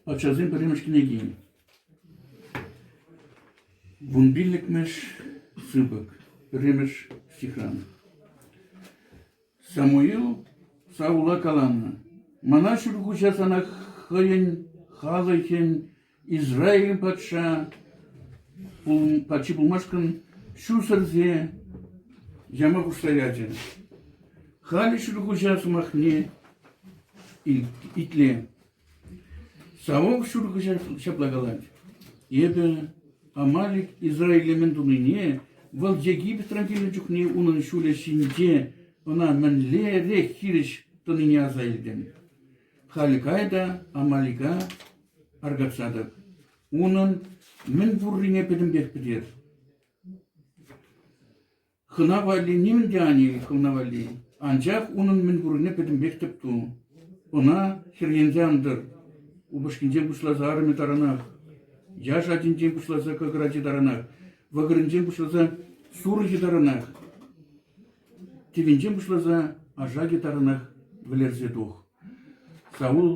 Ачасем пӗрремӗш кӗнеки. Вун пиллӗкмӗш сыпӑк, пӗрремӗш стихран. Самуил Саула каланӑ, «Мана Ҫӳлхуҫа сана хӑйӗн халӑхӗн Израиль патша патши пулмашкӑн ҫусӑрсе яма пуҫлаячӗ. Халӗ Ҫӳлхуҫа сӑмахне Итле, Савок ҫуркӑҫа ҫапла калать: «Эпӗ Амалик Израиле мӗн тунине, вӑл Египетран килнӗ чухне унӑн ҫулӗ ҫинче ӑна мӗнлерех хирӗҫ тӑнине аса илтӗм. Халь кай та Амалика аркатса тӑк, унӑн мӗн пуррине пӗтӗмпех пӗтер». Хӑна валли нимӗн те ан ил, хӑвна валли. Анчах унӑн мӗн курнине пӗтӗмпех тӗп ту. Ӑна хӗрхенсе ан тӑр. Упӑшкинчен пуҫласа арӑмӗ таранах, яш ачинчен пуҫласа кӑкӑр ачи таранах, вӑкӑрӗнчен пуҫласа сурӑхӗ таранах, тӗвинчен пуҫласа ашакӗ таранах вӗлерсе тух. Саул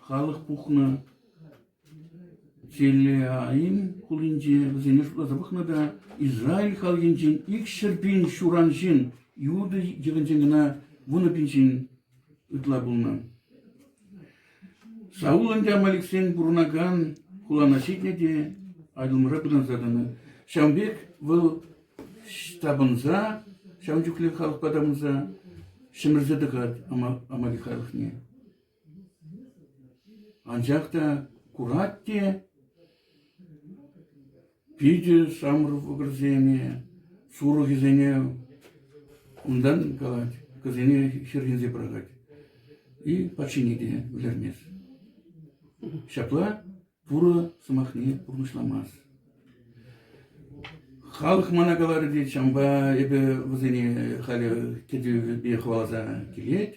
халӑх пухнӑ Телеайн хулинче вӗсене шутласа пӑхнӑ та Израиль халӑхӗнчен икҫӗр пин ҫуран ҫын, Иуда йӑхӗнчен кӑна вунӑ пин ҫын ытла пулнӑ. Саул ӗнтӗ амаликсен пурӑнакан хулана ҫитнӗ те Айдулмӑра пытанса тӑнӑ. Ҫавӑн пек вӑл тапӑнса, ҫавӑн чухлӗ халӑхпа тапӑнса ҫӗмӗрсе тӑкать амалик халӑхне. Анчах та курать те питӗ ҫамрӑк вӑкӑрсене, сурӑхӗсене унтан калать, кӑсене хӗрхенсе пӑрахать. И патшине те вӗлермест. Ҫапла пурӑ сӑмахне пурнӑҫламасть. Халӑх мана каларӗ те чампа эпӗ вӗсене халӗ кӗтӳпе хӑваласа килет.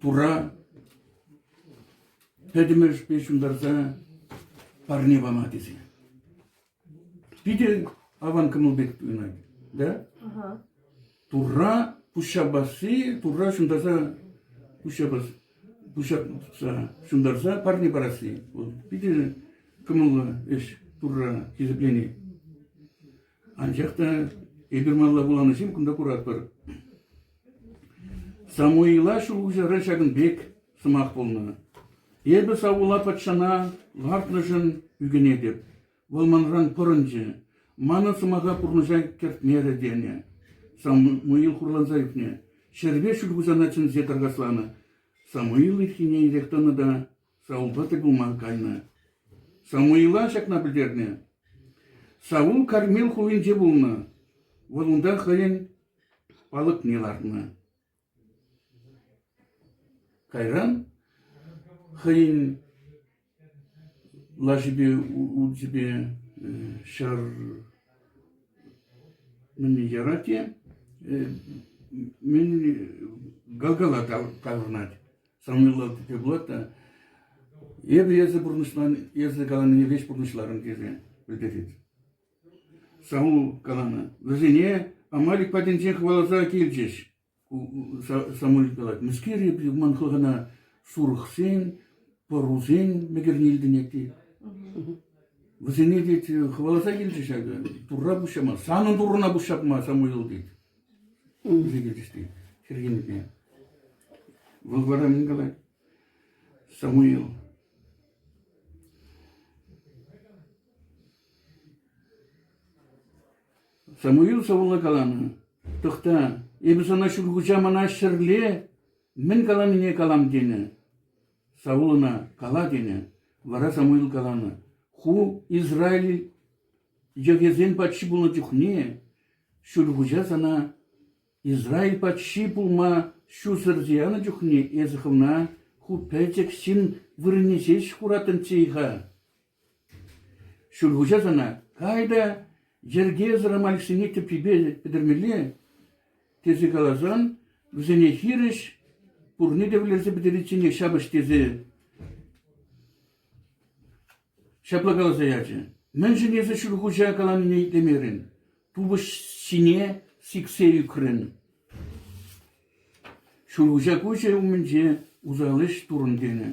Тура пӗтӗмӗшпе ҫунтарса парне пама тесе. Питӗ аван кӑмӑл пек пынӑ. Да? Турра пуҫҫапасси, Турра ҫунтарса пуҫҫапас, пуҫҫапса, ҫунтарса парне парасси. Вӑл питӗ кӑмӑллӑ ӗҫ Турра хисеплени. Анчах та эпир малла вуланӑ ҫын кунта куратпӑр. Самуила Ҫӳлхуҫара ҫакӑн пек сӑмах пулнӑ: «Эпӗ Саула патшана лартнӑшӑн ӳкӗнетӗп, вӑл манран пӑрӑнчӗ, манӑн сӑмаха пурнӑҫа кӗртмерӗ», – тенӗ. Самуил хурланса ӳкнӗ, ҫӗрпе Ҫӳлхуҫана чӗнсе таркасланӑ. Самуил ирхине ирех тӑнӑ та Савупа тӗл пулма кайнӑ. Самуила ҫакна пӗлтернӗ. Саву Кармел хулинче пулнӑ. Вӑл унта хӑйӗн палӑкне лартнӑ. Кайран хӑйӗн лашипе, учӗпе ҫӗр мӗнле ярать те, мӗн Галгала таврӑнать. самойлав тесе пулать та. Эпӗ эсӗ пурнӑҫлан, эсӗ каланине веҫ пурнӑҫларӑм тесе пӗлтерет. Саул каланӑ. Вӗсене Амалик патӗнче хӑваласа килчӗҫ. Самуил калать, мӗскер эпир ман хӑлхана сурӑхсен, пӑрусен мӗкӗрне илтӗнет Вӗсене тет, хӑваласа килчӗ ҫакӑ, турра пуҫҫама, санӑн туррана пуҫҫапма, Самуил, тет. Ӳсӗкӗрҫти Хӗрхинпе. Вӑл вара мӗн калать? Самуил. Самуил сӑвӑлла каланӑ, «Тӑхта, эпӗ сана Ҫӳлхуҫа мана ҫӗрле мӗн каланине калам» тенӗ. Саул ӑна «Кала» тенӗ. Вара Самуил каланӑ, «Ху, Израиль, Йӑхӗсен патши пулнӑ чухне Ҫӳлхуҫа сана Израиль патши пулма ҫусӑр янӑ чухне эсӗ хӑвна ху пӗчӗк ҫын вырӑнне ҫеҫ хуратӑнччӗ-и-ха? Ҫӳлхуҫа сана кай та йӗркесӗр амальшине тӗпчипе пӗтермелле, тесе каласан, вӗсене хирӗҫ пурне те вӗлерсе пӗтеричченех ҫапӑҫ тесе. Ҫапла каласа ячӗ: «Мӗншӗн эсӗ Ҫӳлхуҫа каланине итлемерӗн, тупӑш ҫине сиксе ӳкрӗн?» Ҫӳлхуҫа куҫӗ умӗнче усал ӗҫ турӑн тенӗ.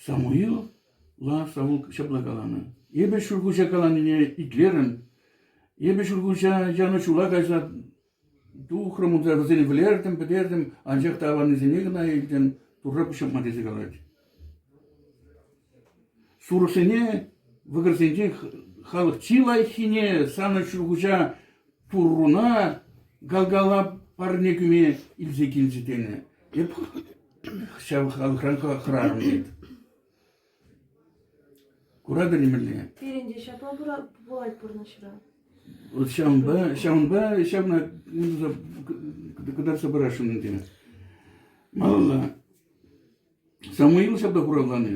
Самуила Саул ҫапла каланӑ: «Эпӗ Ҫӳлхуҫа каланине итлерӗм. Эпӗ Ҫӳлхуҫа янӑ ҫула кайса Тухрӑм унта, вӗсен вылертӗм, пӗтертӗм, анчах та аваннисене кӑна илтӗм, Турра пуҫҫапма тесе калать. Сурӑхсене, вӑкӑрсенчен халӑх чи лайӑххине, санӑн Ҫӳлхуҫа Турруна Галгала парне кӳме илсе килчӗ тенӗ. Эп ҫав халӑхран хӑрарӑм, тет. Кура кӗртмелле. Пирӗн те ҫапла пулать пурнӑҫра. Вот ҫавӑнпа, ҫавӑнпа ҫавна кӑтартса парасшӑн ӗнтӗ. Малалла. Самуил ҫапла хуравланӑ.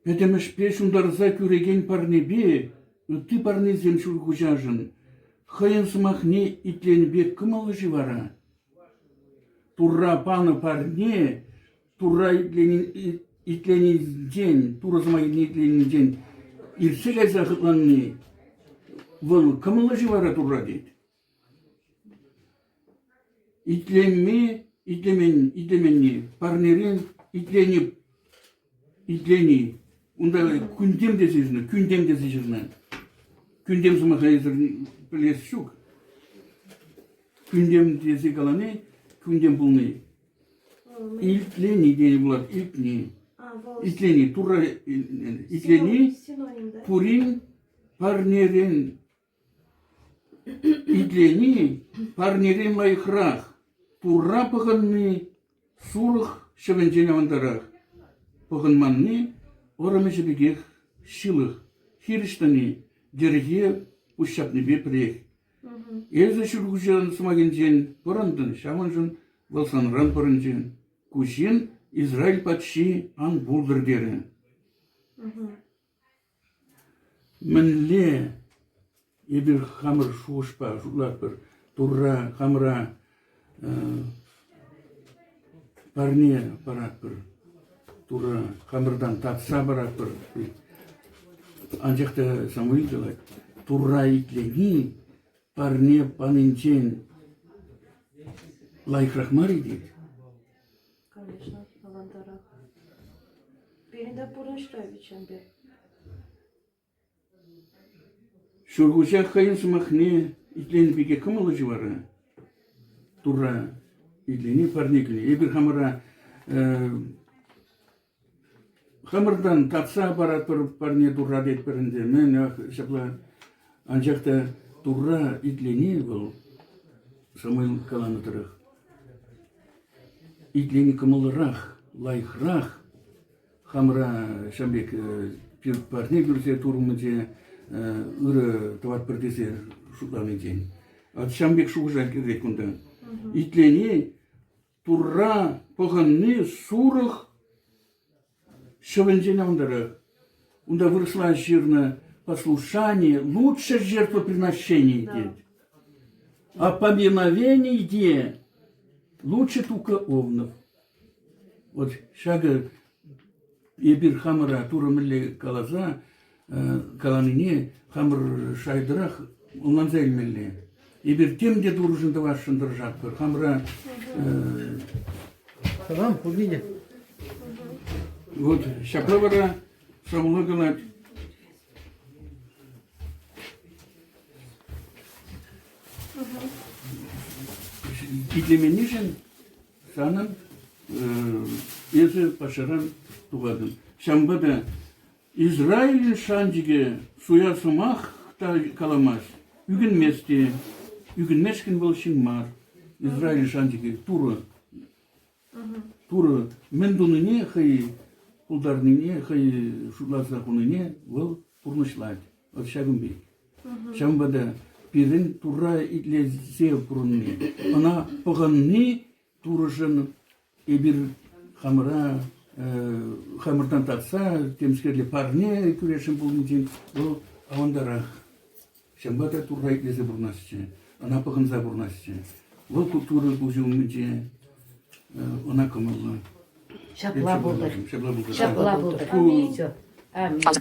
Пӗтӗмӗшпе ҫунтарса кӳрекен парнепе ытти парнесем Ҫӳлхуҫашӑн хӑйӗн сӑмахне итленӗ пек кӑмӑллӑ-ши вара? Турра панӑ парне Турра итленинчен, Турӑ Сӑмахӗне итленинчен ирсӗлесе хӑтланни, вӑл кӑмӑллӑ-ши вара Турра тет. Итленми, итлемен, итлеменни, парнерен итлени, итлени, унта кӳнтем тесе ҫырнӑ, кӳнтем тесе ҫырнӑ. Кӳнтем сӑмахӗсӗр пӗлес ҫук. Кӳнтем тесе калани, кӳнтем пулни. Итлени тенӗ пулать, илтни. Итлени, Турра итлени пурин парнерен. Итлени парнерен лайӑхрах. Турра пӑхӑнни сурӑх ҫӑвӗнчен авантарах. Пӑхӑнманни вӑрӑм ӗҫӗ пекех ҫылӑх. Хирӗҫ тӑни йӗрке пуҫҫапнипе пӗрех. Эсӗ Ҫӳлхуҫан сӑмахӗнчен пӑрӑнтӑн, ҫавӑншӑн вӑл санран пӑрӑнчӗ. Ку ҫын Израиль патши ан пултӑр терӗ. Мӗнле эпир хамӑр шухӑшпа шутлатпӑр? Турра, хамӑра Парне паратпӑр, Турӑ хамӑртан татса паратпӑр. Анчах та Самуил калать, Турра итлени парне панинчен лайӑхрах мар-и тет. Конечно, авантарах. Пирӗн те пурнӑҫра вӗт Чемпер. Ҫӳлхуҫа хӑйӗн сӑмахне итлени пирки кӑмӑллӑ ҫу вара. Турра итлени парне кӳни. Эпир хамӑра хамӑртан татса паратпӑр парне Турра тетпӗр ӗнтӗ. Мӗн ҫапла. Анчах та Турра итлени вӑл Самуил каланӑ тӑрӑх итлени кӑмӑллӑрах, лайӑхрах, Хамӑра ҫam пек пир парне кӳрсе турмӑнче ырӑ тӑватпӑр тесе шутланинчен. От ҫам пек шухӑша кӗрет кунта. Итлени, Турра пӑхӑнни сурӑх ҫӑвӗнчен авантарах. Унта вырӑсла ҫырнӑ послушание лучше жертвоприношений, тет. А поминовение лучше только овнов. Вот ҫакӑ эпир хамӑра Турӑ мӗнле каласа каланине хамӑр шайтӑрах ӑнланса илмелле. Эпир тем те Турӑшӑн тӑвасшӑн тӑрӑшатпӑр. Хамӑра Салам, Кузиня. вот ҫапла вара Шавула калать. Итлеменнишӗн Санӑн эсӗ паҫӑран тухатӑн. Ҫавӑнпа та Израиль шанчӑкӗ суя сӑмах та каламасть, ӳкӗнмест те. Ӳкӗнмешкӗн вӑл ҫын мар. Израиль шанчӑкӗ Турӑ. Турӑ мӗн тунине хӑй пултарнине, хӑй шутласа хунине вӑл пурнӑҫлать. Вӑл ҫакӑн пек. Ҫавӑнпа та пирӗн Турра итлесе пурӑнни, ӑна пӑхӑнни Турӑшӑн эпир хамӑра э, хамӑртан татса темскерле парне кӳресшӗн пулнинчен вӑл авантарах. Ҫавӑнпа та Турра итлесе пурӑнасчӗ, ӑна пӑхӑнса пурӑнасчӗ. Вӑл Турӑ куҫӗ умӗнче э, ӑна кӑмӑллӑ. Ҫапла пултӑр. Ҫапла пултӑр. Ҫапла пултӑр. Аминь.